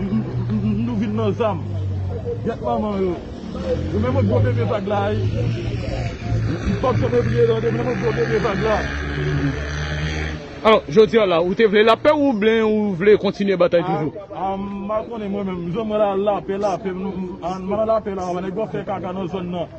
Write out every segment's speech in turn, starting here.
Nou vin nan zam. Gyèt manman yo. Yo menm gwo bebe vag la wi. M pap janm bliye lè yo menm gwo bebe vag la. Alò, jodi a la, ou te vle lapè ou byen ou vle kontinye batay toujou? A m pa konnen mwen menm. Jan mwen la lapè lapè. M nan lapè la. Nèg yo ap fè kaka nan zòn nan.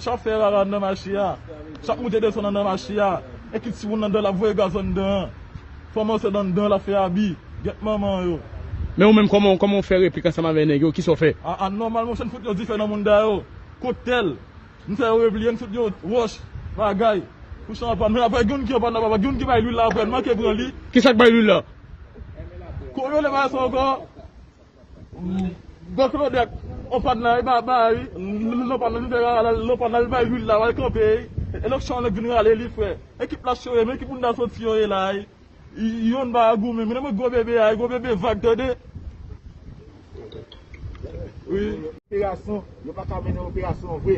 Chap fè rara anndan mache a, chap moute desann anndan mache a, e ki timoun nan dan lap voye gaz anndan an. Fanm ansent anndan lap fè abi, gyèt manman yo. Men ou menm kòman kòman ou fè replik ansanm avè nèg yo, kisa ou fè? A a nòmal monchè n fout yon difè nan mounda yo, kout tèl, n fè yo repliye n fout yo wòch, bagay, pou chan an pa men aprè gen youn ki anpann nan baba gen youn ki bay lwil la aprè n manke pran li. Kisak bay lwil la? Kòm yo rele bagay sa ankò? Don Claudette ou pa nan e pa bay non pa nan li te rale non pa nan li bay huile la wal kanpe e lòk chòv nèg vin rale li frè ekip la chore men ki bounda soti yo ye la youn pa goumen menm gwo bebe a gwo bebe vag tande wi. Operasyon yo paka mennen operasyon vre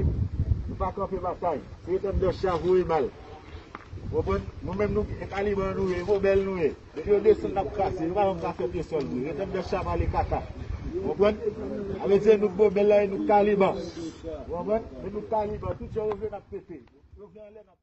nou pa kanpe batay se etan dan chya voye bal ou konprann nou menm nou gen taliban nou ye vobèl nou ye. Depi yo desann nap kraze, yo pa janm ka fè pye sòl vre, rete bèf sa ap ale kaka. Ou konprann? Sa vle di e nou k bobel la e nou k taliban. Ou konprann? E nou k taliban, tout jan yo vle nap pete. Yo vle anlè nap pete.